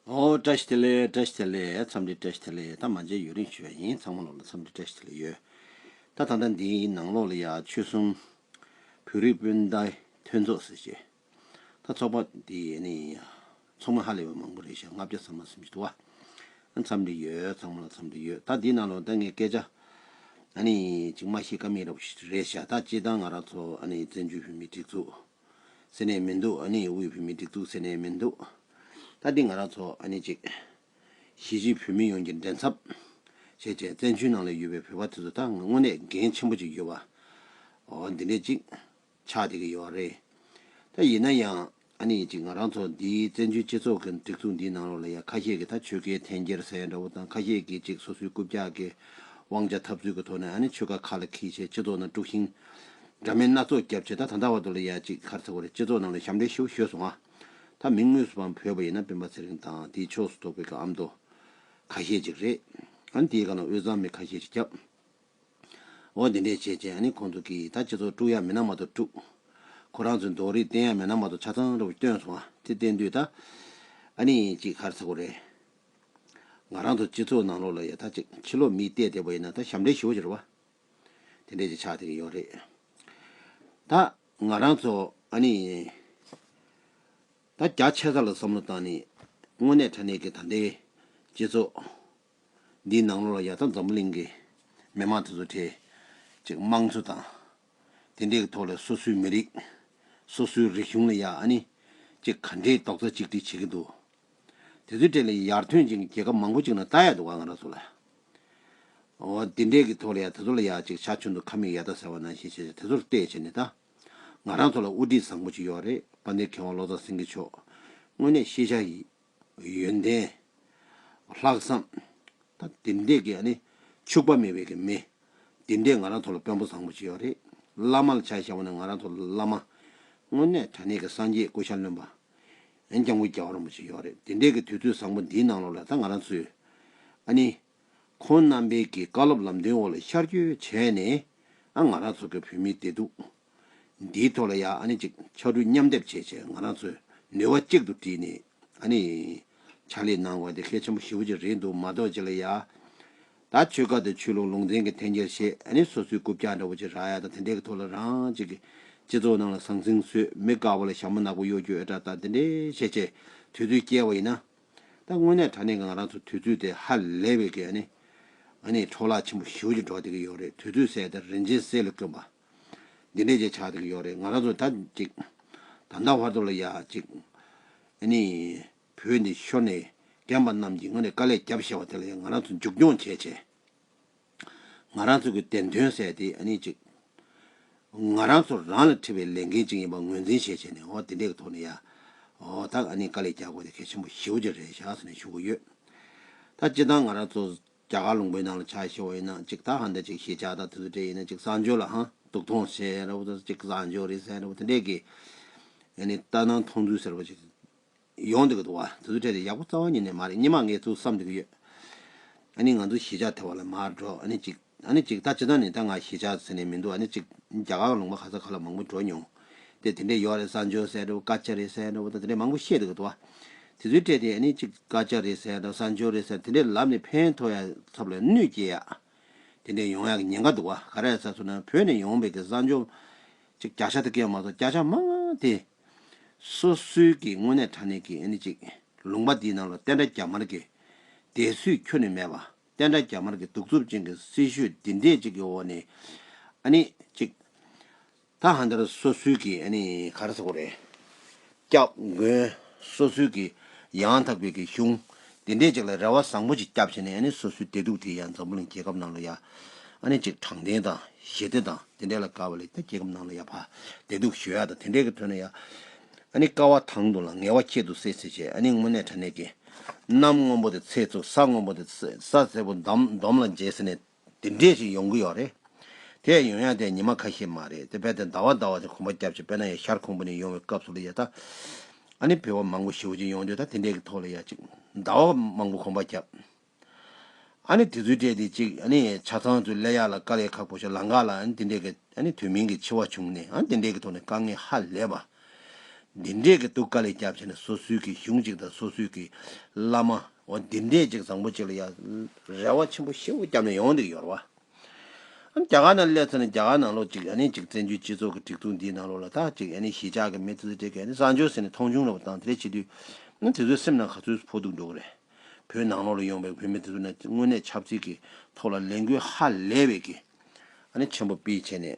བཀྲ་ཤིས་བདེ་ལེགས་བཀྲ་ཤིས་བདེ་ལེགས་འཚམས་འདྲི་བཀྲ་ཤིས་བདེ་ལེགས་ད་མ་མཇལ་ཡུན་རིང་ཞུས་པ་ཡིན་ཚང་མ་ལོག་ལ་འཚམས་འདྲི་བཀྲ་ཤིས་བདེ་ལེགས་ཡོད་ད་ད་ལྟ་འདིའི་ནང་ལོག་ལ་ཡ་ཆོས་གསུམ་བོད་རིགས་སྤུན་ཟླ་མཐུན་ཚོགས་ཟེར་ཆེད་ད་ཚོགས་པ་འདི་ཡེ་ནས་ཡིན་ཡ་ཚོགས་མི་ཧ་ལས་པ་མང་པོ་རེད་ཞག་ལྔ་བརྒྱ་ས་མ་སུམ་ཅུ་དུ་བ་འཚམས་འདྲི་ཡོད་ཚང་མ་ལ་འཚམས་འདྲི་ཡོད་ད་འདིའི་ནང་ལོག་ལ་ད་ངས་སྐད་ཆ་ཨ་ནི་ཅིག་མ་ཤེས་ཀ་མེད་རེད་ཞག་ད་སྤྱི་བཏང་ང་རང་ཚོ་ཨ་ནི་བཙན་བྱོལ་བོད་མིའི་སྒྲིག་འཛུགས། ཟེར་ནས་མི་འདུག་ཨ་ནི་དབུས་བོད་མིའི་སྒྲིག་འཛུགས་ཟེར་ནས་མི་འདུག་ད་འདི་ང་རང་ཚོ་ཨ་ནི་གཅིག། གཞིས་བྱེས་བོད་མི་ཡོངས་ཀྱི་འགྲན་ཚབ། བྱས་རྗེས་བཙན་བྱོལ་ནང་ལས་ཡོད་པའི་བོད་པ་དེ་ཚོ་ད་དངོས་གནས་འགན་ཆེན་པོ་ཅིག་ཡོད་པ། འོ་འདི་འདྲས་ཅིག། ཆགས་བསྡད་ཀྱི་ཡོད་རེད། ད་ཡིན་ན་ཡང་ཨ་ནི་གཅིག་ང་རང་ཚོ་འདི་བཙན་བྱོལ་སྤྱི་ཚོགས་ཀྱི་སྒྲིག་འཛུགས་འདིའི་ནང་རོགས་ལ་ཡ་ཁ་ཤས་ཀྱིས་ད་ཆོལ་ཁའི་འཐེན་འཁྱེར་ཟེར་ཡ་འདྲ་བོ་དང་ཁ་ཤས་ཀྱིས་ཅིག་སོ་སོའི་རྐུབ་བཀྱག་གི་དབང་ཆ་འཐབ་རྩོད་ཀྱི་ཐོག་ནས་ཨ་ནི་ཆོལ་ཁ་ཁ་ལ་ཁིལ་བྱས་སྤྱི་ཚོགས་ནང་དཀྲུགས་ཤིང་འདྲ་མིན་སྣ་ཚོགས་བརྒྱབ་བྱས་ད་ད་ལྟ་བར་དུ་ལ་ཡ་གཅིག་གར་ཚ་བ་རེད་སྤྱི་ཚོགས་ནང་ལ་ཞབས་འདྲེན་ཞུ་ཞོས་སོང་ང་ད་མིང་དངོས་སུ་པའམ་བོས་པ་ཡིན་ན་སྤེན་པ་ཚེ་རིང་དང་དེའི་ཕྱོགས་སུ་གཏོགས་པའི་ཀ་ཨམ་དོ་ཁ་ཤས་ཅིག་རེད་ཨ་ནི་དེའི་སྒང་ལ་དབུས་གཙང་མི་ཁ་ཤས་ཅིག་སྐྱབས་འོ་དེ་འདྲས་བྱས་བྱས་ཨ་ནི་ཁོང་ཚོ་གིས་ད་སྤྱི་ཚོགས་དཀྲུག་ཡག་མིན་ན་མ་གཏོགས་དཀྲུག་ཁོ་རང་ཚོའི་མདོག་རིས་བསྟན་ཡག་མིན་ན་མ་གཏོགས་ཆ་ཚང་ར་བུ་སྟོན་སོང་ང་དེ་བསྟན་དུས་ད་ཨ་ནི་གཅིག་གར་ཚ་བ་རེད་ང་རང་ཚོ་སྤྱི་ཚོགས་ནང་ལོགས་ལ་ཡ་ད་གཅིག་ཕྱི་ལོགས་མིས་བལྟས་བལྟས་པ་ཡིན་ན་ད་ཞབས་འདྲེན་ཞུ་ཞོས་རེད་བ། དེ་འདྲས་ཀྱི་ཆ་དེ་རེ་ཡོད་རེད། ད། ང་རང་ཚོ། ཨ་ནི། ད་རྒྱ་ཆད་ས་ལ་བསམ་བློ་བཏང་ནས། དངོས་གནས་དྲ་གནས་ཀྱི་ད་ལྟའི། སྤྱི་ཚོགས། འདིའི་ནང་ལོགས་ལ་ཡ་ད་འཛམ་བུ་གླིང་གི། མི་མང་དེ་ཚོ་གྲས། ཅིག་དམངས་གཙོ་དང། དེ་འདྲས་ཀྱི་ཐོག་ལ་སོ་སོའི་མི་རིགས། སོ་སོའི་རིག་གཞུང་ལ་ཡ་ཨ་ནི། ཅིག་ག་འདྲས་རྡོག་རྩ་གཅིག་སྒྲིལ་བྱེད་ཀྱི་འདུག། དེ་ཚོའི་གྲས་ལ་ཡར་ཐོན་ཅིག་རྒྱལ་ཁབ་མང་པོ་ཅིག་ན་ལྟ་ཡ་འདུག་ང་རང་ཚོ་ལ། ཨོ། འདི་འདྲས་ཀྱི་ཐོག་ལ་ཡང་དེ་ཚོ་ལ་ཡག་ཅིག་ཆ་ཆུང་དུ་ཁ་མིག་ཡར་ལྟ་ཟེར་བ་ནང་བཞིན་བྱས་བྱས་དེ་ཚོར་བལྟས་བྱས་ནས་ལྟ། ང་རང་ཚོ་ལ་དབུ་ཁྲིད་བཟང་པོ་ཅིག་ཡོད་རེད་དཔའ་འདེགས་མཁས་དབང་ལོ་ཙཱ་སེང་གེ་མཆོག། དངོས་གནས་ཤེས་བྱ་ཡི། ཡོན་ཏན། ལྷག་བསམ། དང་འདི་འདྲས་ཀྱི་ཨ་ནི། འཕྱུགས་པ་མེད་པའི་ཀྱི་མི། འདི་འདྲས་ང་རང་ཚོ་ལ་དཔོན་པོ་བཟང་པོ་ཅིག་ཡོད་རེད། བླ་མ་ལ་ཆ་བཞག་པ་ནི་ང་རང་ཚོ་ལ་བླ་མ། དངོས་གནས་དྲ་གནས་ཀྱི་སངས་རྒྱས་སྐུ་ཤར་ལོན་པ། ཡང་ཀྱང་ཀུ་རྒྱལ་བ་རིན་པོ་ཆེ་ཡོད་རེད་དེ་འདྲས་ཀྱི་དུས་ཚོད་བཟང་པོ་འདིའི་ནང་ལོགས་ལ་ད་ང་རང་ཚོས་ཨ་ནི། ཁོང་རྣམ་པས་ཀྱི་བཀའ་སློབ་ལམ་སྟོན་འོག་ལ་ཤར་བསྐྱོད་བྱས་ནས་ཨ་ང་རང་ཚོ་གི་བོད་མིའི་བདེ་སྡུག་འདིའི་ཐོག་ལ་ཡང་ཨ་ནི་ཅིག་ཕྱག་དྲུག་མཉམ་སྡེབ་བྱས་བྱས་ང་རང་ཚོས་ནུས་བ་གཅིག་ཏུ་བསྒྲིལ་ནས་ཨ་ནི། ཕྱག་ལས་གནང་དགོས་ན་དེ་གལ་ཆེན་པོ་ཞེ་བོ་ཅིག་རེད་འདུག་མ་གཏོགས་ཅི་ལ་ཡ། ད་ཆོལ་ཁ་དང་ཆོས་ལུགས་ལུང་ཚན་གྱི་འཐེན་འཁྱེར་ཞེས་ཨ་ནི་སོ་སོའི་རྐུབ་བཀྱག་འདྲ་བོ་ཅིག་རག་ཡ་དང་དེ་འདྲའི་གི་ཐོག་ལ་རང་ཅིག་གིས་སྤྱི་ཚོགས་ནང་ལ་ཟང་ཟིང་བཟོས་མི་དགའ་བ་ལ་ཞྭ་མོ་ནག་པོ་གཡོ་སྒྱུ་ཨེ་དྲག་ད་དེ་འདྲའི་བཤད་བྱའི་དུས་ཚོད་བསྐྱལ་བ་ཡིན་ན། ད་དངོས་གནས་དྲ་གནས་ཀྱི་ང་རང་ཚོ་དུས་ཚོད་དེ་ཧ་ལས་བས་ཀྱི་ཨ་ནི། ཨ་ནི་འཕྲོ་བརླག་ཆེན་པོ་ཞིའུ་ཅིག་འགྲོ་བསྡད་ཀྱི་ཡོད་རེད་དུས་ཚོད་ཟད་དེ་རིན་ཆེན་གསེར་ལ་བསྐོན་པ། འདི་འདྲའི་ཅིག་ཆགས་བསྡད་ཀྱི་ཡོད་རེད་ང་རང་ཚོ་ད་ཅིག་ད་ལྟ་བར་དུ་ལ་ཡ་ཅིག་ཨ་ནི། བོད་ནས་ཤོར་ནས་རྒན་པ་རྣམས་ཀྱིས་ང་ནས་དཀའ་ལས་བརྒྱབ་བཞེས་བ་དེ་ལ་ཡང་ང་རང་ཚོ་མཇུག་སྐྱོང་བྱས་བྱས། ང་རང་ཚོ་གི་བདེན་དོན་བསལ་ཏེ་ཨ་ནི་ཅིག། ང་རང་ཚོ་རང་ལ་འཁྲི་བའི་ལས་འགན་ཅིག་ཡིན་པ་ངོས་འཛིན་བཞེས་བྱས་ནས་འོ་དེ་འད་གི་ཐོག་ནས་ཡ། འོ་ད་ཨ་ནི་དཀའ་ལས་རྒྱག་དགོས་དེ་གལ་ཆེན་པོ་ཞེ་བོ་ཅིག་རེད་བཞག་ཟེར་ནས་ཞུ་གི་ཡོད། ད་སྤྱི་བཏང་ང་རང་ཚོ་རྒྱ་གར་ལུང་པའི་ནང་ལ་ཆ་བཞེས་བ་ཡིན་ན་ཅིག་ད་ཧ་འད་ཅིག་ཞེས་བྱ་ད་དེ་ཚོ་འདྲེ་ཡིན་ན་ཅིག་བཟང་སྤྱོད་ལ་ཧང་སྡུག་ཐོང་ཟེར་ར་བོ་ད་ཅིག་བཟང་སྤྱོད་རེད་ཟེར་ར་བོ་དེ་འད་ཀྱི། ཨ་ནི་ལྟ་སྣང་མཐོང་ཚུལ་ཟེར་བ་ཅིག། ཡོང་འདོད་ཀྱི་འདུག་བ་དེ་ཚོ་ཕྲད་དེ་ཡག་པོ་རྩ་བ་ཉིད་ནས་མ་རེད་སྙེ་མ་ངས་ཐུགས་བསམ་འདོད་ཀྱི་ཡོད། ཨ་ནི་ང་ཚོ་གཞིས་ཆགས་དེ་བ་ལ་མ་འགྲོ་ཨ་ནི་གཅིག་ཨ་ནི་གཅིག་ད་ཅི་ད་ནི་ད་ང་གཞིས་ཆགས་ཟེར་ནས་མི་འདུག་ཨ་ནི་གཅིག་རྒྱ་གར་ལུང་པ་ག་ས་ག་ལ་མང་པོ་འགྲོ་མྱོང་སྟེ་དེ་འདྲས་ཡོག་རེད་ས་འཇོ་ཟེར་འདྲ་བོ་ཀ་ཅ་རེད་ཟེར་འདྲ་བོ་ད་དེ་འདྲས་མང་པོ་བཤད་འདོད་ཀྱི་འདུག་བ་དེ་ཚོའི་ཕྲད་དེ་ཨ་ནི་གཅིག་ཀ་ཅ་རེད་ཟེར་འདྲ་བོ་ས་འཇོ་རེད་ཟེར་དེ་འདྲས་ལབ་ནས་ཕན་ཐོག་ཡ་ཚབ་ལ་གནོད་སྐྱེལ་ཡག་དེ་འདྲས་ཡོང་ཡག་གི་ཉེན་ཁ་འདུག་བ་ག་རེ་ད་ས་སུ་ན་བོད་ནས་ཡོང་བའི་གི་ས་འཇོ་གཅིག་རྒྱ་ཤ་དེ་ཀ་མ་གཏོགས་སྐྱ་ཤ་མང་དེ། སོ་སོའི་གི་དངོས་གནས་དྲ་གནས་ཀྱི་ཨེ་ནི་ཅིག་ལུང་པ་འདིའི་ནང་ལ་བསྟན་དགྲ་རྒྱ་དམར་གི་དད་སུས་ཁྱོ་ནི་མེད་པ་བསྟན་དགྲ་རྒྱ་དམར་གི་གདུག་རྩུབ་ཅན་གི་སྲི་ཞུ་འདི་འདྲས་ཅིག་གི་འོག་ནས་ཨ་ནི་ཅིག་ད་ཧ་འདར་སོ་སོའི་གི་ཨ་ནི་ག་རེ་ཟེར་གོ་རེ་སྐྱག་མགོན་སོ་སོའི་གི་ཡང་དག་པའི་གི་གཞུང་དེ་འདྲས་ཅིག་ལ་རེ་བ་བཟང་པོ་ཅིག་བསྐྱབས་བྱས་ནས་ནི་སོ་སོའི་བདེ་སྡུག་དེ་ཡང་འཛམ་བུ་གླིང་རྒྱལ་ཁབ་ནང་ལ་ཡ་ནི་ཅིག་དྲང་བདེན་དང་ཞི་བདེ་དང་དེ་འདྲས་ལ་དགའ་བ་ལས་ཀྱང་རྒྱལ་ཁབ་ནང་ལ་ཡ་བ་བདེ་སྡུག་ཞི་བ་དང་དེ་འདྲས་ཀྱི་དོན་ལ་ཡ་ནི་དཀའ་བ་དང་དུ་ལ་ངལ་བ་ཁྱད་དུ་སེ་སེ་བྱས་ནི་དངོས་གནས་དྲ་གནས་ཀྱི་གནམ་སྔོན་པོ་དེ་ཚེས་ཚུགས་ས་སྔོན་པོ་དེ་ས་སེར་པོ་འདོམ་ལ་མཇལ་ཟེར་ནས། དེ་འདྲས་ཤིག་ཡོང་གི་ཡོག་རེད། དེ་ཡོང་ཡག་དེ་ཉི་མ་ཁ་ཤས་མ་རེད་དེ་རྦད་དེ་ཟླ་བ་ཟླ་བ་ཆ་ཁོང་པ་སྐྱབས་ཆེ་དཔེར་ན་ཡ་ཤར་ཁོང་པ་ནས་ཡོང་བའི་སྐབས་སུ་ལ་ཡ་ད། ཨ་ནི་བོད་པ་མང་པོ་ཞེ་བོ་ཅིག་ཡོང་འདོད་ད་དེ་འདྲས་ཀྱི་ཐོག་ལ་ཡ་ཅིག་ཟླ་བ་མང་པོ་ཁོང་པ་སྐྱབས། ཨ་ནི་དེ་ཚོའི་གྲས་དེ་ཅིག་ཨ་ནི་ཆ་ཚང་ཚོས་ལས་ཡག་ལ་དཀའ་ལས་ཁག་པོ་ཞིག་ལང་ག་ལ་ཨ་ནི་དེ་འདྲས་ཀྱི་ཨ་ནི་དུས་མིན་གྱི་འཆི་བ་བྱུང་ནས་ཨ་དེ་འདྲས་ཀྱི་ཐོག་ནས་དཀའ་ངལ་ཧ་ལས་པ། འདི་འདྲས་ཀྱི་སྡུག་དཀའ་ལས་སྐྱབས་ཆེ་ནས་སོ་སོའི་གྱི་གཞུང་ཅིག་དང་སོ་སོའི་གྱི་བླ་མ། འོ་འདི་འདྲས་ཅིག་བཟང་པོ་ཅིག་ལ་ཡང་རེ་བ་ཆེན་པོ་ཞེ་བོ་བརྒྱབ་ནས་ཡོང་འདུག་ཡོར་བ། ཨ་རྒྱ་གར་ན་སླེབས་ཚར་ནས་རྒྱ་གར་ནང་ལོགས་ཅིག་ཨ་ནི་ཅིག་བཙན་བྱོལ་སྤྱི་ཚོགས་ཀྱི་སྒྲིག་འཛུགས་འདིའི་ནང་ལོགས་ལ་ད་ཅིག་ཨ་ནི་གཞིས་ཆགས་ཀྱི་མི་ཚེ་ཚེ་དེ་ག་ཨ་ནི་བཟང་སྤྱོད་ཟེར་ནས་མཐོང་ཆུང་ལོགས་པ་དང་དེ་འདྲས་བྱེད་དུས་ཨ་དེ་ཚོའི་སེམས་ནང་ག་ཚོད་སུ་ཕོག་འདུག་འགྲོ་གི་རེད། བོད་ནང་ལོགས་ལ་ཡོང་པའི་བོད་མི་དེ་ཚོ་ནི་དངོས་གནས་ཆབ་སྲིད་ཀྱི་ཐོག་ལ་ལས་འགུལ་ཧ་ལས་པའི་གི་ཨ་ནི་ཆེན་པོ་སྤེལ་བྱས་ནས།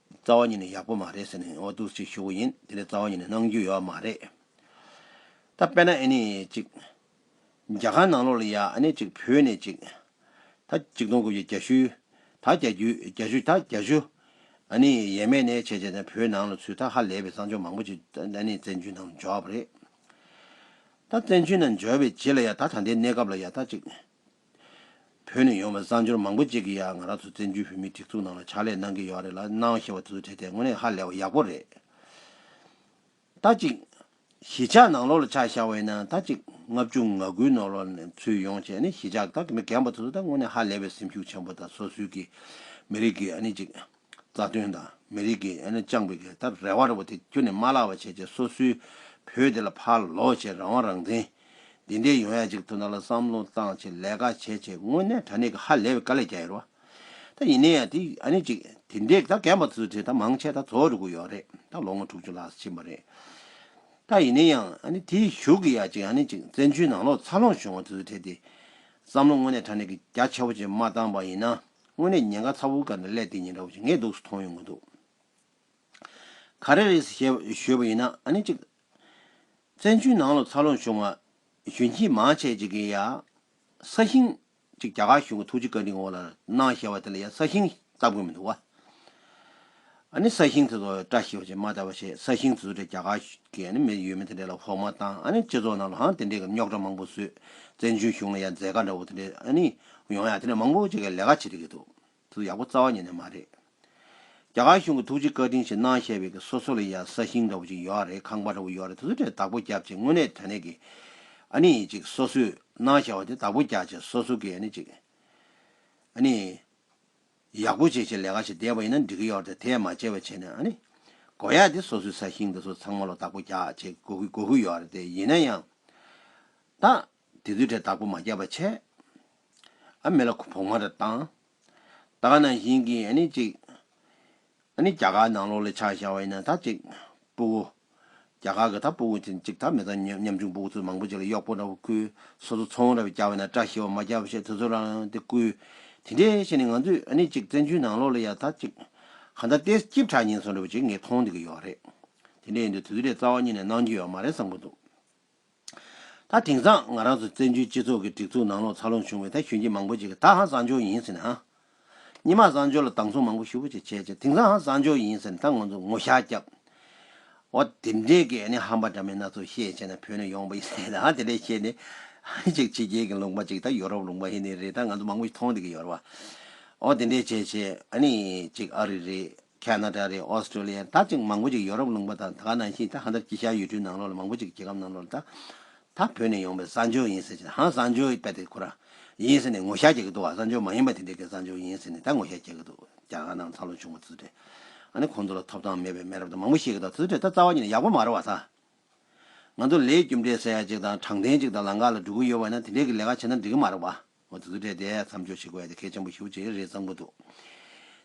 རྩ་བ་ཉིད་ནས་ཡག་པོ་མ་རེད་ཟེར་ནས་འོ་དུག་ཅིག་ཞུ་གི་ཡིན་དེ་ནི་རྩ་བ་ཉིད་ནས་གནང་རྒྱུ་ཡོད་མ་རེད། ད་དཔེར་ན་ཨེ་ནི་ཅིག། རྒྱ་གར་ནང་ལོགས་ལ་ཡ་ཨེ་ནི་ཅིག་བོད་ནས་ཅིག། ད་ཅིག་སྟོང་དགུ་བརྒྱ་གྱ་ཤུ། ད་གྱ་གྱུ་གྱ་ཤུ་ད་གྱ་ཤུ། ཨེ་ནི་ཡས་མས་གནས་བྱས་བྱས་ནས་བོད་ནང་ལ་ཚུད་ད་ཧ་ལས་པའི་བསང་ཆུ་མང་པོ་ཅིག་ཨེ་ནི་བཙན་བྱོལ་ནང་ལ་འཇོག་པ་རེད། ད་བཙན་བྱོལ་ནང་འཇོག་པའི་རྗེས་ལ་ཡ་ད་ད་ལྟའི་གནས་སྐབས་ལ་ཡ་ད་ཅིག། བོད་ནས་ཡོང་བའི་གསར་འབྱོར་མང་པོ་ཅིག་གིས་ཡང་ང་རང་ཚོ་བཙན་བྱོལ་བོད་མིའི་སྒྲིག་འཛུགས་ནང་ལ་ཕྱག་ལས་གནང་གི་ཡོད་རེད་ལ་གནང་ཞེས་བ་དེ་ཚོ་བྱས་ཏེ་དངོས་གནས་ཧ་ལས་བ་ཡག་པོ་རེད། ད་ཅིག། གཞིས་ཆགས་ནང་ལོག་ལ་ཆགས་བཞག་བས་ན་ད་ཅིག་ལྔ་བཅུ་ང་དགུའི་ནོར་ལོག་ནས་ཚུད་ཡོང་བྱས་ནས་གཞིས་ཆགས་དག་གི་མི་རྒན་པ་ཚོ་ཚོ་ད་དངོས་གནས་ཧ་ལས་བའི་སེམས་ཤུགས་ཆེན་པོ་དང་སོ་སོའི་གི་མི་རིགས་ཀྱི་ཨ་ནི་ཅིག་རྩ་དོན་དང་མི་རིགས་ཀྱི་ཨ་ནེ་བཅངས་པའི་གེ་སར་རལ་བ་རི་བོ་དེ་ཁྱོད་ནས་མ་བརླག་པ་བྱས་རྗེས་སོ་སོའི་བོད་དེ་ལ་ཕར་ལོག་བྱས་རང་དབང་རང་བཙན་འདི་འདྲའི་ཡོང་ཡ་ཅིག་ཐུབ་ན་ལ་བསམ་བློ་བཏང་བྱས་ལས་ཀ་བྱས་བྱས་དངོས་གནས་དྲ་གནས་ཀྱི་ཧ་ལས་པའི་དཀའ་ལས་རྒྱག་ཡ་རུ་བ་ད་ཡིན་ནའི་ཡ་དེ་ཨ་ནེ་ཅིག་དེ་འདྲའི་ད་རྒན་པ་ཚོ་དེ་ད་མང་ཆེ་ད་ཚོ་རུ་གུ་ཡོག་རེད་ད་ལོ་ངོ་དྲུག་ཅུ་ལྷག་ཕྱིན་པ་རེད་ད་ཡིན་ནའི་ཡང་ཨ་ནེ་དེའི་གཞུག་གི་ཡ་ཅིག་ཨ་ནེ་ཅིག་བཙན་བྱོལ་ནང་ལོག་ཚར་ལོངས་བྱུང་བ་དེ་ཚོ་དེ་དེ་བསམ་བློ་དངོས་གནས་དྲ་གནས་ཀྱི་རྒྱ་ཆེ་བོ་ཅིག་མ་བཏང་པ་ཡིན་ན། དངོས་གནས་ཉེན་ཁ་ཚ་བོ་འགའ་ནི་ཀླད་དེ་ཉིན་ར་བ་ཆེ་ངས་འདུག་སུ་མཐོང་ཡོང་གི་འདུག་ག་རེ་རེད་ཟེར་ཞོད་པ་ཡིན་ན་ཨ་ནི་གཅིག། བཙན་བྱོལ་ནང་ལོ་ཚ་ལོངས་བྱུང་བ་གཞོན་སྐྱེས་མང་ཆེ་གཅིག་གིས་ཡ། ས་ཞིང། གཅིག་རྒྱ་གར་གཞུང་གི་ཐུགས་རྗེ་བཀའ་དྲིན་དབུ་བླར་གནང་ཞེས་བ་དེ་ལ་ཡ་ས་ཞིང་ལྟ་དགོས་མི་འདུག་བ། ཨ་ནི་ས་ཞིང་དེ་ཚོ་བཀྲ་ཤིས་པ་ཞིག་མ་བལྟ་བ་ཞིག་ས་ཞིང་དེ་ཚོ་དེ་རྒྱ་གར་གྱི་མི་ཡུལ་མི་དེ་འདྲས་ལ་བོགས་མ་བཏང་ཨ་ནི་སྤྱི་ཚོགས་ནང་ལ་ཧང་དེ་འདྲས་ཀྱི་རྙོག་དྲ་མང་པོ་བཟོས་བཙན་བྱོལ་གཞུང་ལ་ཡང་མཛད་དཀའ་འདྲ་བོ་དེ་འདྲས་ཨ་ནི་ཡོང་ཡ་དེ་འདྲས་མང་པོ་བྱེད་མཁན་ལས་ཀ་བྱེད་རིགས་ཀྱི་འདུག་དེ་ཚོ་ཡག་པོ་རྩ་བ་ཉིད་ནས་མ་རེད། རྒྱ་གར་གཞུང་གི་ཐུགས་རྗེ་བཀའ་དྲིན་ཞིག་གནང་ཞེས་པའི་གི་སོ་སོ་ལ་ཡང་ས་ཞིང་འདྲ་བོ་ཅིག་ཡོད་རེད་ཁང་པ་འདྲ་བོ་ཡོད་རེད་དེ་ཚོ་དེ་བདག་པོ་རྒྱབ་ཅིག་དངོས་གནས་དོན་གནད་ཀྱི་ཨ་ནི་ཅིག་སོ་སོས་གནང་བཞག་བ་དེ་བདག་པོ་རྒྱག་ཅིག་སོ་སོ་གི་ཨ་ནི་ཅིག་ཨ་ནི། ཡག་པོ་བྱས་བྱས་ལས་ཀ་བྱས་བསྡད་པ་ཡིན་ན་འགྲིག་གི་ཡོད་རེད་དེ་ཡང་མ་བྱས་པས་བྱས་ནས་ཨ་ནི། དགོས་ཡག་དེ་སོ་སོའི་ས་ཞིང་དེ་ཚོ་ཚང་མ་ལོ་བདག་པོ་རྒྱག་བྱེད་དགོས་ཀི་དགོས་ཀི་ཡོད་རེད་དེ་ཡིན་ན་ཡང། ད། དེ་ཚོའི་གྲས་བདག་པོ་མ་རྒྱག་པ་བྱས། ཨ་མི་ལ་ཁུ་བོག་མ་རེ་བཏང། ད་ན་ཞིང་གི་ཨ་ནི་ཅིག། ད་ནི་རྒྱ་གར་ནང་ལོགས་ལས་ཆགས་བཞག་བ་ཡིན་ན་ད་ཅིག། སྤུ་བོ། རྒྱ་གར་གྱི་ད་སྤུ་བོ་ཅིག་ད་མེ་ཏོག་ཉམས་ཆུང་སྤུ་བོ་ཚུལ་མང་པོ་ཅིག་ལ་གཡོག་པོ་འདྲ་བོ་ཁུལ་སོ་སོ་ཚོང་ར་བའི་རྒྱ་བ་ན་བཀྲ་ཤིས་བ་མ་རྒྱ་བ་ཞེས་དུས་ཚོད་རང་རང་དེ་བསྐུལ། དེ་འདྲའི་ཤེས་ནས་ང་ཚོས་ཨ་ནི་ཅིག་བཙན་བྱོལ་ནང་ལོགས་ལ་ཡང་ད་ཅིག། གང་ལྟར་ལྟས་སྐྱིབས་གྲགས་ཉེན་སོང་འདྲ་བོ་ཅིག་ངས་མཐོང་བསྡད་ཀྱི་ཡོད་རེད། དེ་འདྲས་ཡིན་དུས་དུས་དེ་འདྲས་རྩ་བ་ཉིད་ནས་གནང་རྒྱུ་ཡོད་མ་རེད་བསམ་གྱི་འདུག། ད་དེང་སང་ང་རང་ཚོ་བཙན་བྱོལ་སྤྱི་ཚོགས་ཀྱི་སྒྲིག་འཛུགས་ནང་ལོག་ཚ་ལོང་བྱུང་བའི་ད་གཞོན་སྐྱེས་མང་པོ་ཅིག་གིས་ད་ཧང་བཟང་ཕྱོགས་ཡིན་ཟེར་ནས་ཧང་ཉི་མ་བཟང་ཕྱོགས་ལ་སྡང་ཟུག་མང་པོ་ཞུ་བོ་ཅིག་བྱས་རྗེས་དེང་སང་ཧང་བཟང་ཕྱོགས་ཡིན་ཟེར་ནས་ད་ང་ཚོ་ངོ་ཤག་རྒྱབ་འོ་དེ་འདྲའི་གི་ནི་ཧང་པ་འདྲ་མིན་སྣ་ཚོགས་བཤད་བྱས་ནས་བོད་ནས་ཡོང་བ་ཡིན་ཟེར་ནས་ཧང་དེ་འདྲའི་བཤད་ནི་ཧང་ཅིག་ཕྱི་རྒྱལ་གྱི་ལུང་པ་ཅིག་ད་ཡོ་རོབ་ལུང་པ་ཧི་ནི་རེད་ད་ང་ཚོ་མང་པོ་ཞིག་མཐོང་འདི་གི་ཡོ་རོབ་བ་འོ་དེ་འདྲའི་བྱས་བྱས་ཨ་ནི་ཅིག་ཨ་རི་རེད། ཁ་ན་ཏྲ་རེད་ཨོ་སི་ཀྲོ་ལི་ཡར་ད་ཅིག་མང་པོ་ཅིག་ཡོ་རོབ་ལུང་པ་དང་ད་ག་ནང་བཞིན་ད་ཧ་འདྲ་ཅི་ཤ་ཡོད་དུས་ནང་ལོག་ལ་མང་པོ་ཅིག་རྒྱལ་ཁབ་ནང་ལོག་ལ་ད་ད་བོད་ནས་ཡོང་པའི་གསར་འབྱོར་ཡིན་ཟེར་ཅིག་ཧང་གསར་འབྱོར་པད་དེ་ཁོ་ར་ཡིན་ཟེར་ནས་ངོ་ཤ་རྒྱག་གི་འདུག་ག་གསར་འབྱོར་མ་ཡིན་པ་དེ་འདྲས་ཀའི་གསར་འབྱོར་ཡིན་ཟེར་ནས་ད་ངོ་ཤ་རྒྱག་གི་འདུག་རྒྱ་གར་ནང་ཚ་ལོ་བྱུང་བ་ཙི་ཙི་འདྲས་ཨ་ནི་ཁོང་ཚོ་ལ་ཐོབ་ཐང་མེད་པའི་མེད་རབས་དང་མང་པོ་བཤད་གི་འདུག་ཙི་ཙི་འདྲས་ད་རྩ་བ་ཉིད་ནས་ཡག་པོ་མ་རེད་བ་ད་ང་ཚོ་ལས་རྒྱུ་འབྲས་ཟེར་ཡག་ཅིག་དང་དྲང་བདེན་ཅིག་དང་ལང་ཀ་ལ་འགྲོ་གི་ཡོད་བ་ཡིན་ན་དེ་འདྲས་ཀི་ལས་ཀ་བྱེད་ན་འགྲིག་གི་མ་རེད་བ། ང་ཚོ་དུས་དྲན་དེ་མཚམས་འཇོག་བྱེད་དགོས་ཡ་དེ་གལ་ཆེན་པོ་ཞིག་བྱེད་ཀྱི་རེད་བསམ་གྱི་འདུག་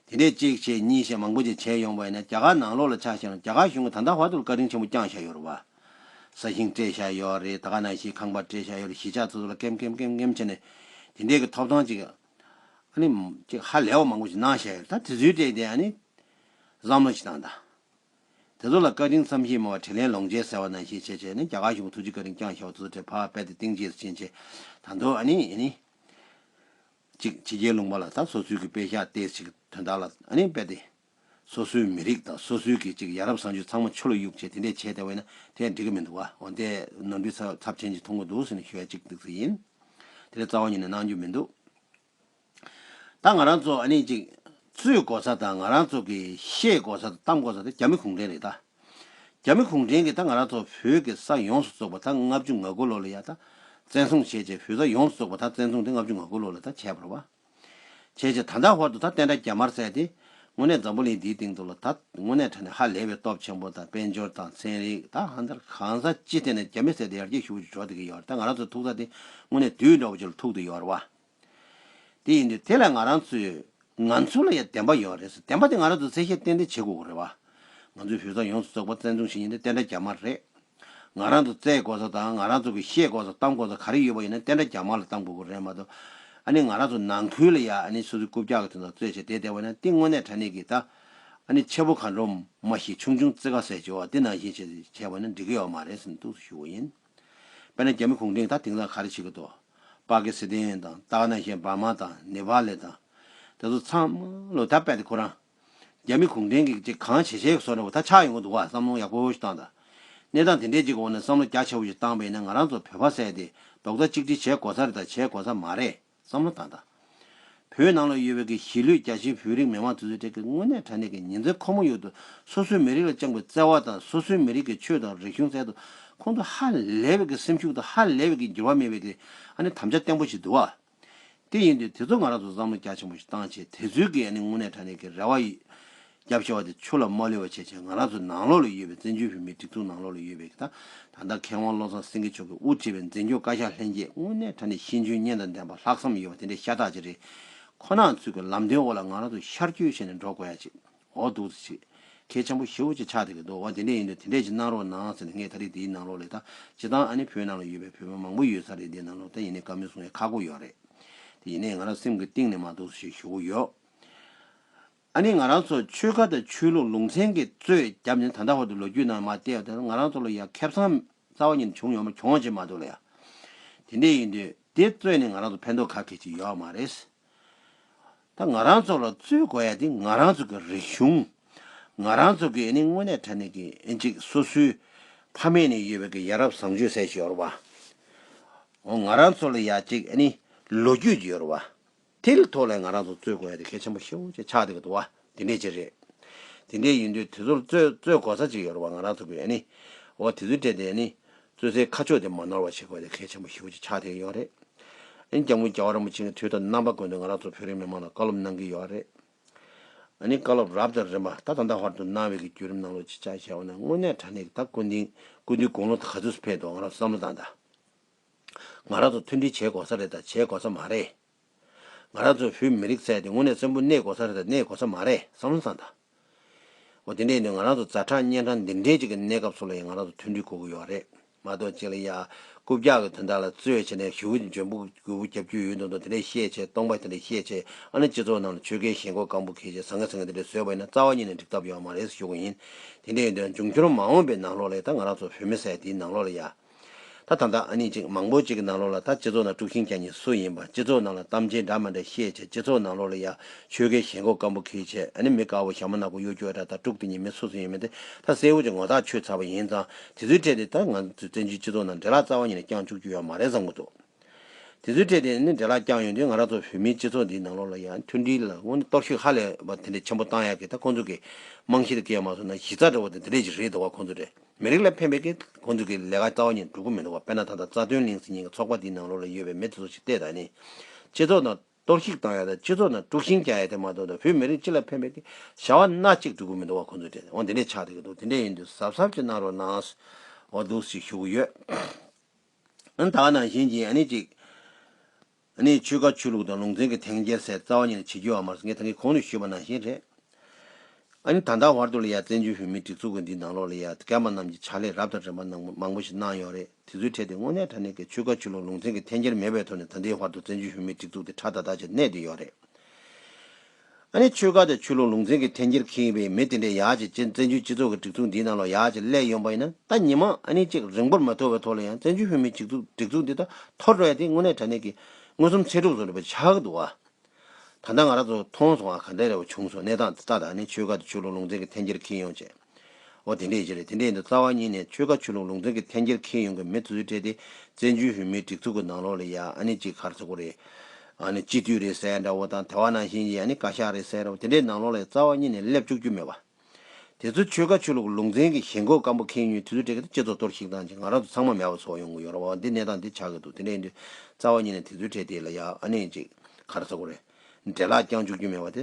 དེ་ནས་གཅིག་བྱས་གཉིས་བྱས་མང་པོ་ཅིག་བྱས་ཡོང་བས་ན་རྒྱ་གར་ནང་ལོགས་ལ་ཆགས་ཞེན་རུང་རྒྱ་གར་གཞུང་གིས་ད་ལྟ་བར་དུ་བཀའ་དྲིན་ཆེན་པོ་བསྐྱངས་བཞག་ཡོད་རེད་བ། ས་ཞིང་སྤྲད་བཞག་ཡོད་བ་རེད་ད་ག་ནང་བཞིན་ཁང་པ་སྤྲད་བཞག་ཡོད་རེད་གཞིས་ཆགས་སོ་སོ་ལ་ཀེམ་ཀེམ་ཀེམ་ཀེམ་བྱས་ནས་དེ་འདྲས་ཀྱི་ཐོབ་ཐང་ཅིག་ཨ་ནི་ཅིག་ཧ་ལས་བ་མང་པོ་ཞིག་གནང་བཞག་ཡོད་རེད་ད་དུས་ཚོད་དྲན་དེ་ཨ་ནི་བསམ་བློ་ཞིག་བཏང་ད། དེ་ཚོ་ལ་བཀའ་དྲིན་བསམ་ཤེས་མང་བ་དྲིན་ལན་ལོངས་སྤྱད་ཟེར་བ་ནང་བཞིན་བྱས་བྱས་ནས་རྒྱ་གར་གཞུང་གི་ཐུགས་རྗེ་བཀའ་དྲིན་བསྐྱངས་ཤོག་དེ་ཚོ་དྲེད་ཕག་རྦད་དེ་སྟེང་རྗེས་སུ་ཕྱིན་བྱས་ད་འདོད་ཨ་ནི་ཨ་ནི། ཅིག་ཕྱི་རྒྱལ་ལུང་པ་ལ་དང་སོ་སོའི་གི་དཔེ་ཤག་ལྟས་ཤིག་དོན་དག་ལ་ཨ་ནི་རྦད་དེ། སོ་སོའི་མི་རིགས་དང་སོ་སོའི་གི་ཅིག་ཡ་རབས་བཟང་སྤྱོད་ཚང་མ་ཆོ་ལོ་གཡུག་བྱས་དེ་འདྲས་བྱས་དེ་བས་ན་དེས་འགྲིག་གི་མི་འདུག་ཨ་འོན་ཏེ་ནོར་འཁྲུལ་ཚབས་ཆེན་ཅིག་མཐོང་གི་འདུག་ཟེར་ནས་ཞུ་ཡ་ཅིག་འདུག་ཚུལ་ཡིན་དེ་འདྲས་རྩ་བ་ཉིད་ནས་གནང་རྒྱུ་མི་འདུག། ད་ང་རང་ཚོ་ཨ་ནི་ཅིག། ཚུལ་དགོ་ས་དང་ང་རང་ཚོ་གི་ཤེས་དགོ་ས་དང་གཏམ་དགོ་ས་དེ་རྒྱ་མི་གུང་བྲན་རེད་ད། རྒྱ་མི་གུང་བྲན་གིས་ད་ང་རང་ཚོ་བོད་གི་ས་ཡོངས་སུ་བཙོག་པ་ད་ལྔ་བཅུ་ང་དགུ་ལོ་ལ་ཡ་ད་བཙན་བཟུང་བྱས་བྱས་བོད་ས་ཡོངས་སུ་བཙོག་པ་ད་བཙན་བཟུང་དེ་ལྔ་བཅུ་ང་དགུ་ལོ་ལ་ད་བྱས་པར་བ། བྱས་བྱས་ད་ད་བར་དུ་ད་བསྟན་དགྲ་རྒྱ་དམར་བསད་དེ། དངོས་གནས་འཛམ་བུ་གླིང་འདིའི་སྟེང་དུ་ལ་ད་དངོས་གནས་དྲ་ནས་ཧ་ལས་པའི་སྟོབས་ཆེན་པོ་དང་དཔལ་འབྱོར་དང་ཚན་རིག་ད་ཧ་འདིར་གང་ས་ཅི་ཐད་ནས་རྒྱ་མི་བསད་དེ་ཡར་རྒྱས་ཤུགས་ཆུ་འཇོག་བསྡད་ཀྱི་ཡོད་རེད་ད་ང་རང་ཚོ་ཐུག་ས་དེ་དངོས་གནས་དུས་འདྲ་བོ་ཅིག་ལ་ཐུག་འདུག་ཡོད་རེད་བ། དེ་ཡིན་དུས་དེ་ལ་ང་རང་ཚོས། ང་ཚོ་ལ་ཡང་བདེན་པ་ཡོད་རེད་ཟེར་བདེན་པ་དེ་ང་རང་ཚོས་བཙན་ཤེད་གཏན་འདེད་བྱེད་དགོས་རེད་བ། ང་ཚོའི་བུ་ཚ་ཡོངས་སུ་རྫོགས་པ་བཙན་བཟུང་བྱེད་ཉིན་དེ་བསྟན་དགྲ་རྒྱ་དམར་རེད། ང་རང་ཚོ་བཙལ་དགོས་ས་དང་ང་རང་ཚོ་གི་ཤེས་དགོས་ས་གཏམ་དགོས་ས་ག་རེ་ཡོད་པ་ཡིན་ན་བསྟན་དགྲ་རྒྱ་དམར་ལ་གཏམ་དགོས་ཀྱི་རེད་མ་གཏོགས། ཨ་ནི་ང་རང་ཚོ་ནང་ཁུལ་ལ་ཡ་ཨ་ནི་སོ་སོའི་རྐུབ་བཀྱག་གི་དོན་དང་རྩོད་བྱེད་བསྡད་བསྡད་བ་ཡིན་ན་ཏིང་དངོས་གནས་དྲ་གནས་ཀྱི་ད་ཨ་ནི་ཆེ་པོ་ག་འགྲོ་མ་ཞིག་ཆུང་ཆུང་རྩེ་ག་ཟེར་བྱེད་བ་འདི་ནང་བཞིན་བྱེད་བྱས་བ་ཡིན་ན་འགྲིག་གི་ཡོད་མ་རེད་ཟེར་ནས་གཏུགས་སུ་བཞུགས་བ་ཡིན། དཔེར་ན་རྒྱ་མི་གུང་ཁྲན་ད་དེང་སང་ག་རེ་བྱེད་ཀྱི་འདུག་པ་ཀི་སི་ཐན་དང་ཏག་ན་ཤན་བྷ་མ་དང་ནེ་བྷ་ལེ་དང། དེ་ཚོ་ཚང་མ་ལོ་ད་པད་དེ་ཁོ་རང། རྒྱ་མི་གུང་ཁྲན་གྱིས་ཅིག་གང་བྱེད་བྱས་སོ་ན་བ་ད་ཆགས་ཡོང་གི་འདུག་བ་བསམ་བློང་ཡག་པོ་ཞིག་བཏང་ད། གནས་སྟངས་དེ་འདྲས་ཅིག་གི་འོག་ན་བསམ་བློ་རྒྱ་ཆེ་བོ་ཞིག་བཏང་བས་ན་ང་རང་ཚོ་བོད་པ་ཟས་དེ་རྡོག་རྩ་གཅིག་སྒྲིལ་བྱས་དགོས་ས་རེད་ད་བྱས་དགོས་ས་མ་རེད། བསམ་བློ་བཏང་དང། བོད་ནང་ལ་ཡོད་པའི་གི་གཞིས་ལུས་རྒྱ་ཆེའི་བོད་རིགས་མི་མང་དེ་ཚོའི་གྲས་ཀྱི་དངོས་གནས་དྲ་གནས་ཀྱི་ཉིན་མཚན་ཁོ་མོ་ཡོད་དུ་སོ་སོའི་མི་རིགས་ལ་བཅངས་པའི་བརྩེ་བ་དང་སོ་སོའི་མི་རིགས་ཀྱི་ཆོས་དང་རིག་གཞུང་སྩལ་དུ་ཁོང་དུ་ཧ་ལས་པའི་གི་སེམས་ཤུགས་དང་ཧ་ལས་པའི་གི་འགྱུར་བ་མེད་པའི་གི་ཨ་ནི་དམ་བཅའ་བརྟན་པོ་ཞིག་འདུག་བ། དེ་ཡིན་དུས་དེ་ཚོ་ང་རང་ཚོ་བསམ་བློ་རྒྱ་ཆེན་པོ་ཞིག་བཏང་ཆེད་དེ་ཚོའི་གི་ཨ་ནི་དངོས་གནས་དྲ་གནས་ཀྱི་རེ་བ་ཡིན། རྒྱབ་ཕྱེ་བ་དེ་ཆུ་ལ་མ་ལུས་པ་བྱས་ཅིང་ང་རང་ཚོའི་ནང་ལོགས་ལ་ཡོད་པའི་བཙན་བྱོལ་བོད་མིའི་སྒྲིག་འཛུགས་ནང་ལོགས་ལ་ཡོད་པའི་ད་ལྟ་མཁས་དབང་བློ་བཟང་སེང་གེ་མཆོག་གིས་དབུ་འཁྲིད་པའི་འཛིན་སྐྱོང་བཀའ་ཤག་ལྷན་རྒྱས་དངོས་གནས་ད་ནི་ཤེས་འཇོན་སྙན་དང་ལྡན་པ་ལྷག་བསམ་ཡོད་པ་དེ་འདྲའི་ཤ་སྟག་ཅིག་རེད་ཁོ་ནའང་ཚུལ་གྱི་ལམ་སྟོན་འོག་ལ་ང་རང་ཚོ་ཤར་སྐྱོད་བྱས་ནས་འགྲོ་དགོས་ཡ་ཅིག་འོ་འདུག་ཚེ་ཆེ་ཁྱེད་ཆང་པོ་ཞེ་བོ་ཅིག་ཆགས་འདི་གི་འདུག་འོ་དེ་འདྲས་ཡིན་དུས་དེ་འདྲས་ཅིག་གནང་རོགས་གནང་ཟེར་ནས་ངས་ད་རིས་འདིའི་ནང་ལོགས་ལས་ད་ཅི་སྟང་ཨ་ནི་བོད་ནང་ལ་ཡོད་པའི་བོད་མི་མང་པོ་ཡོད་ས་རེད་འདིའི་ནང་ལོགས་ད་ཡིན་ནའི་ཀ་མེད་གསུང་ཡ་ཁག་པོ་ཡོད་རེད་དེ་ཡིན་ནའི་ང་རང་སེམས་གི་གཏིང་ནས་མ་འདུག་ཟེར་ཞེས་ཞུ་གི་ཡོད། ཨ་ནི་ང་རང་ཚོ་ཆོལ་ཁ་དང་ཆོས་ལུགས་ལུང་ཚན་གྱི་གཙོས་རྒྱབ་ནས་ད་ལྟ་བར་དུ་ལོ་རྒྱུས་ནང་མ་བལྟས་བ་དང་ང་རང་ཚོ་ལ་ཡང་ཁེབས་ཚང་རྩ་བ་ཉིད་ནས་བྱུང་ཡོང་མ་གྱོང་བྱེད་མ་འདུག་ལ་ཡང་དེ་འདྲས་ཡིན་དུས་དེ་རྩོད་ནས་ང་རང་ཚོ་ཕན་ཐོག་ག་གེ་ཅིག་ཡོད་མ་རེད། ད་ང་རང་ཚོ་ལ་རྩོད་དགོས་ཡ་དེ་ང་རང་ཚོ་གི་རིག་གཞུང་ང་རང་ཚོ་གི་ཨ་ནི་དངོས་གནས་དྲ་ནས་གི་ཅིག་སོ་སོའི་ཕ་མེས་ནས་ཡོད་པའི་གི་ཡ་རབས་བཟང་སྤྱོད་ཟེར་ཞིག་ཡོད་རོ་བ། ང་རང་ཚོ་ལ་ཡ་ཅིག་ཨ་ནི་ལོ་རྒྱུས་ཀྱི་ཡོད་རོ་བ། དེ་ལས་ཐོག་ལས་ང་རང་ཚོ་རྩོད་དགོས་ཡ་དེ་གལ་ཆེན་པོ་ཤེའུ་ཅེས་ཆགས་འདི་ག་འདུག་བ་དེ་འདྲས་ཅིག་རེད། དེ་འདྲས་ཡིན་དུས་དེ་ཚོར་རྩོད་རྩོད་དགོ་ས་ཅིག་ཡོད་རུང་བ་ང་རང་ཚོ་གིས་ཡ་ནི། འོ་དེ་ཚོའི་གྲས་དེ་ཡ་ནི། རྩོད་སའི་ཁ་ཕྱོགས་དེ་མ་ནོར་བ་བྱེད་དགོས་ཡ་དེ་གལ་ཆེན་པོ་ཤེའུ་ཅེས་ཆགས་འདི་ག་ཡོད་རེད། ཨ་ནི་རྒྱ་དངུལ་རྒྱ་བ་རིན་པོ་ཆེ་གི་དུས་ཐོག་རྣམ་པ་དགོས་འདོད་ང་རང་ཚོ་བོད་རིགས་མི་མང་ལ་བཀའ་སློབ་གནང་གི་ཡོད་རེད། ཨ་ནི་བཀའ་སློབ་རབ་དང་རིམ་པ་ད་ད་ལྟ་བར་དུ་གནང་བའི་གི་བརྒྱུད་རིམ་གནང་ལུགས་ཅིག་ཅག་བཤད་འོ་ན་དངོས་གནས་དྲ་གནས་ཀྱི་ད་བཀོད་འདིང་བཀོད་འདི་དགུང་ལོ་ད་ག་ཚོད་སུ་ཕེབས་འདུག་ང་རང་ཚོ་བསམ་བློ་བཏང་ད། ང་རང་ཚོ་མཐུན་སྒྲིལ་བྱེད་དགོས་ས་རེད་དང་བྱེད་དགོས་ས་མ་རེད། ང་རང་ཚོའི་བོད་མི་རིགས་ཚད་དེ་དངོས་གནས་བཙན་པོ་གནས་དགོས་ས་རེད་དང་གནས་དགོས་ས་མ་རེད་བསམ་བློ་བཏང་དང། འོ་དེ་འདྲས་ནི་ང་རང་ཚོ་རྫ་ཁྲག་གཉན་ཁྲག་འདི་འདྲས་ཅིག་གི་གནས་སྐབས་སུ་ལ་ཡང་ང་རང་ཚོ་མཐུན་སྒྲིལ་དགོས་ཀྱི་ཡོད་རེད་མ་གཏོགས་གཅིག་ལ་ཡག་རྐུབ་རྒྱག་གི་དོན་དག་ལ་རྩོད་བྱེད་ནས་ཞུ་བོ་ཅི་འཇོན་པོ་རྒུད་བོ་རྒྱབ་རྒྱུ་ཡོད་འདུག་མདོ་དེ་འདྲས་བཤད་བྱས་སྟོང་པ་དེ་འདྲས་བཤད་བྱས་ཨ་ནི་སྤྱི་ཚོགས་ནང་ལ་ཆོལ་ཁའི་ཞེན་ཁོག་སྐམ་པོ་ཁེལ་བྱས་ཟ་ངེ་ཟ་ངེ་དེ་འདྲས་བཟོས་པ་ཡིན་ན་རྩ་བ་ཉིད་ནས་འགྲིག་ཐབས་ཡོད་མ་རེད་ཞུ་གི་ཡིན་དེ་འདྲས་ཡོད་དོན་འབྱུང་འཁྱོར་མ་འོངས་པའི་ནང་ལོགས་ལ་ཡ་ད་ང་རང་ཚོ་བོད་མི་ས་ཡ་དེའི་ནང་ལོགས་ལ་ཡ། ད་ད་ད་ཨ་ནི་ཅིག་མང་པོ་ཅིག་གི་ནང་ལོགས་ལ་ད་སྤྱི་ཚོགས་ནང་དཀྲུགས་ཤིང་རྒྱག་ཉིན་སུ་ཡིན་པ་སྤྱི་ཚོགས་ནང་ལ་གཏམ་ཅི་འདྲ་མ་འདྲ་བཤད་བྱས་སྤྱི་ཚོགས་ནང་ལོགས་ལ་ཡ་ཆོལ་ཁའི་ཞེན་ཁོག་སྐམ་པོ་ཁིལ་བྱས་ཨ་ནི་མི་དཀར་བོ་ཞྭ་མོ་ནག་པོ་གཡོ་སྒྱོ་འདྲ་ད་དཀྲུགས་དེ་ཉིན་མི་སུ་སུ་ཡིན་མིན་དེ་ད་གསལ་བོ་ཅིག་ངོ་ཐག་ཆོད་ཚར་བ་ཡིན་ཙང་དེ་ཚོའི་གྲས་དེ་ད་ང་ཚོའི་བཙན་བྱོལ་སྤྱི་ཚོགས་ནང་འདྲེ་ལག་རྩ་བ་ཉིད་ནས་བརྐྱངས་བཅུག་རྒྱུ་ཡོད་མ་རེད་བསམ་གྱི་འདུག། དེ་ཚོའི་གྲས་དེ་ནི་འདྲེ་ལག་བརྐྱངས་ཡོད་འདུག་ང་རང་ཚོ་བོད་མིའི་སྤྱི་ཚོགས་འདིའི་ནང་ལོགས་ལ་ཡང་མཐུན་སྒྲིལ་ལ་སྔོན་གཏོར་ཤུགས་ཧ་ལས་པ་དེ་འདྲའི་ཆེན་པོ་བཏང་ཡག་གི་ད་ཁོང་ཚོ་གི་རྨང་གཞི་དེ་སྐྱོན་མ་སོང་ན་གཞི་རྩ་འདྲ་བོ་དེ་འདི་འདྲས་ཅིག་རེད་འདུག་བ་ཁོང་ཚོ་འདྲས་མི་རིགས་ལ་ཕན་པའི་གི་ཁོང་ཚོ་གི་ལས་ཀ་རྩ་བ་ཉིད་འགྲུབ་གི་མི་འདུག་བ་དཔེར་ན་ད་ལྟ་རྩ་དོན་གླིང་སེ་ཉིན་གི་ཚོགས་པ་འདིའི་ནང་ལོགས་ལ་ཡོད་པའི་མི་དེ་ཚོ་ཞིག་བལྟས་ད་ནི་སྤྱི་ཚོགས་ནང་གཏོར་བཤིག་བཏང་ཡག་དང་སྤྱི་ཚོགས་ནང་དཀྲུགས་ཤིང་བརྒྱག་ཡག་དེ་མ་གཏོགས་ད་བོད་མི་རིགས་སྤྱི་ལ་ཕན་པའི་གི་བྱ་བ་སྣ་གཅིག་འགྲུབ་གི་མི་འདུག་བ་ཁོང་ཚོ་འདྲས་འོང་དེ་འདྲས་ཆགས་ད་གི་འདུག་དེ་འདྲས་ཡིན་དུས་གཟབ་གཟབ་ཅིག་གནང་རོགས་གནང། འོ་འདུག་ཞིག་ཞུ་གི་ཡོད། ད་ག་ནང་བཞིན་གྱི་གཅིག། ཆོས་བཀའ་ཆོས་ལུགས་དང་ལུང་ཚན་གྱི་ཐེངས་བརྒྱད་སའི་རྩ་བ་གཉིས་ལ་བྱེད་རྒྱུ་བ་མ་ཟད་ངས་ད་གི་གོང་དུ་ཞུས་པ་ནང་བཞིན་རེད། ད་ལྟ་བར་དུ་ལ་ཡ་བཙན་བྱོལ་བོད་མིའི་སྒྲིག་འཛུགས་འདིའི་ནང་ལོགས་ལ་ཡ་རྒན་པ་རྣམས་ཀྱི་ཕྱག་ལས་རབ་དང་རིམ་པ་ནང་མང་པོ་ཞིག་གནང་ཡོད་རེད་དེ་ཚོའི་གྲས་དེ་དངོས་གནས་ད་ནས་ཀྱི་ཆོས་བཀའ་ཆོས་ལུགས་ལུང་ཚན་གྱི་ཐེངས་བརྒྱད་མེད་པའི་ཐོག་ནས་ད་ལྟའི་བར་དུ་བཙན་བྱོལ་བོད་མིའི་སྒྲིག་འཛུགས་དེ་ཁྲ་ཐག་ཐག་ཅིག་གནས་དེ་ཡོད་རེད། ཨ་ནི་ཆོལ་ཁ་དང་ཆོས་ལུགས་ལུང་ཚན་གྱི་འཐེན་འཁྱེར་མཁན་ཡིན་པའི་མི་དེ་འདྲས་ཡ་ཆེ་བཙན་བྱོལ་སྤྱི་ཚོགས་ཀྱི་སྒྲིག་འཛུགས་འདིའི་ནང་ལ་ཡ་ཆེ་སླེབས་ཡོང་པ་ཡིན་ན་ད་ཉི་མ་ཨ་ནི་གཅིག་རིང་པོར་མ་ཐོར་བའི་ཐོག་ལ་ཡང་བཙན་བྱོལ་བོད་མིའི་སྒྲིག་འཛུགས་སྒྲིག་འཛུགས་འདི་ད་ཐོར་འགྲོ་ཡ་དེ་དངོས་གནས་དྲ་གནས་ཀྱི་མངོན་སུམ་ཚེ་སྒྲུབ་བཟོ་རེད་པ་ཆགས་ཀྱི་འདུག་ཨ། ད་ལྟ་ང་རང་ཚོ་མཐོང་སོང་ཨ་ག་འདྲས་རེད་བ་བྱུང་སོང་གནས་སྟངས་འདི་ལྟ་ད་ཨ་ནི་ཆོལ་ཁ་དང་ཆོས་ལུགས་ལུང་ཚན་གྱི་འཐེན་འཁྱེར་མཁན་ཡོང་ཆེད། འོ་དེ་འདྲས་ཀྱི་རེད་དེ་འདྲས་འདུག་རྩ་བ་ཉིད་ནས་ཆོལ་ཁ་ཆོས་ལུགས་ལུང་ཚན་གྱི་འཐེན་འཁྱེར་ཁེལ་ཡོང་གི་མེད་ཚུལ་སྤྲད་དེ་བཙན་བྱོལ་བོད་མིའི་སྒྲིག་འཛུགས་ཀྱི་ནང་ལོགས་ལས་ཡག་ཨ་ནི་གཅིག་གར་ཚོགས་པ་རེད་ཨ་ནི་སྤྱི་འཐུས་རེད་ཟེར་འདྲ་བོ་དང་དེ་བ་ནང་བཞིན་གྱི་ཨ་ནི་བཀའ་ཤག་རེད་ཟེར་འདྲ་བོ་དེ་འདྲས་ནང་ལོགས་ལས་རྩ་བ་ཉིད་ནས་སླེབས་བཅུག་རྒྱུ་མེད་པ། དེ་ཚོ་ཆོལ་ཁ་ཆོས་ལུགས་ལུང་ཚན་གྱི་ཞེན་ཁོག་སྐམ་པོ་ཁེལ་ཉོས་ཚུལ་སྤྲད་གི་འདུག་སྤྱི་ཚོགས་གཏོར་བཤིག་བཏང་རྗེས་ང་རང་ཚོ་ཚང་མ་མེད་པ་ཚོ་ཡོང་གི་ཡོད་ར་བ་འདི་གནས་སྟངས་འདི་ཆགས་གི་འདུག་དེ་འདྲས་འདུག་རྩ་བ་ཉིད་ནས་དེ་ཚུལ་སྤྲད་དེ་ལས་ཡག་ཨ་ནི་གཅིག་གར་ཚོགས་པ་རེད་འདྲས་ལག་བརྐྱངས་བཅུག་རྒྱུ་མེད་པ་དེ་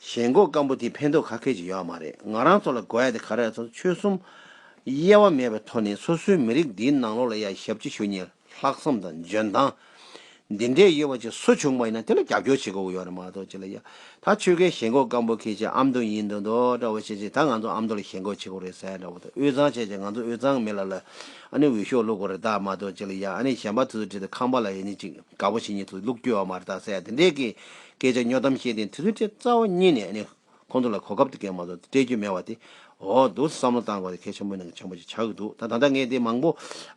ཞེན་མགོ་སྐམ་པོ་དེ་ཕན་ཐོག་ག་ཁེལ་གྱི་ཡོད་མ་རེད་ང་རང་ཚོ་ལ་དགོས་ཡ་དེ་ག་རེད་ཚོ་ཆོལ་གསུམ་དབྱེ་བ་མེད་པའི་ཐོག་ནས་སོ་སོའི་མི་རིགས་འདིའི་ནང་ལོག་ལ་ཡ་ཞབས་ཅི་ཞུ་ཉེས་ལྷག་བསམ་དང་འཇོན་ཐང་འདི་འདྲའི་ཡོད་པ་ཅིག་སུ་བྱུང་པ་ཡིན་ན་དེ་ལ་རྒྱབ་སྐྱོར་བྱེད་དགོས་ཀྱི་ཡོད་རེད་མ་གཏོགས་ཅི་ལ་ཡ་ད་ཆོལ་ཁའི་ཞེན་མགོ་སྐམ་པོ་ཁེལ་ཆེད་ཨམ་མདོ་ཡིན་མདོ་མདོ་འདྲ་བོ་བྱེད་ཆེད་ད་ང་ཚོ་ཨམ་མདོ་ལ་ཞེན་ཁོག་བྱེད་དགོས་རེད་ཟེར་འདྲ་བོ་དང་དབུས་གཙང་བྱས་ཆེད་ང་ཚོ་དབུས་གཙང་མི་ལ་ལ་ཨ་ནི་འོས་ཤོག་བླུག་དགོས་རེད་ད་མ་གཏོགས་ཅི་ལ་ཡ་ཨ་ནི་གཞན་པ་ཚོ་ཚོ་བྲིས་ཏེ་ཁང་པ་ལ་ཡེ་ནས་ཅིག། དགའ་བོ་ཞིག་ཉིད་དུ་ལུག་རྒྱུ་བ་མར་བཏགས་ཚད་དེ་འདྲས་ཀྱི་སྐད་ཆ་སྨྱོ་གཏམ་བཤད་དེ་དུས་ཚོད་ཁྲི་རྩ་བ་གཉིས་ནས་ནི་ཁོང་ཚོ་ལ་གོ་སྐབས་དེ་གས་མ་གཏོགས་སྤྲད་རྒྱུ་མེད་བ་དེ་འོ་འདུག་བསམ་བློ་བཏང་དགོས་ཏེ་ཁས་ཆེན་པོ་ནང་གི་ཆེན་པོ་ཞིག་ཆགས་ཀྱི་འདུག་ད་ད་ལྟ་ངས་དེ་མང་པོ་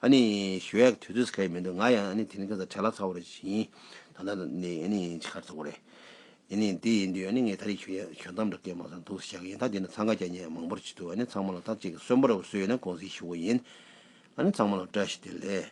ཨ་ནི་ཞུ་ཡག་དུས་ཚོད་གས་མི་འདུག་ང་ཡང་ཨ་ནི་དེ་རིང་ག་ཚ་བྲེལ་ལ་ཚ་བོ་རེ་ཞིག་ཡིན་ད་ད་ནི་ཨ་ནི་ཆི་ཁར་ཚ་བོ་རེད་ཨ་ནི་དེ་ཡིན་དུས་ཨ་ནི་ངས་ད་རེས་ཞུ་ཡག་ཞུ་གཏམ་འདྲ་གས་མ་སོང་འདུག་བཤད་ཀྱི་ཡིན་ད་དེ་ནི་འཚང་ཁ་རྒྱ་ཉེ་མང་པོར་བྱེད་དུས་ཨ་ནི་ཚང་མ་ལ་ཐག་གཅིག་གི་གསོན་པོ་ར་བ་བཟོས་ཡོད་ན་དགོངས་སེལ་ཞུ་དགོས་ཡིན་ཨ་ནི་ཚང་མ་ལ་བཀྲ་ཤིས་བདེ་ལེགས།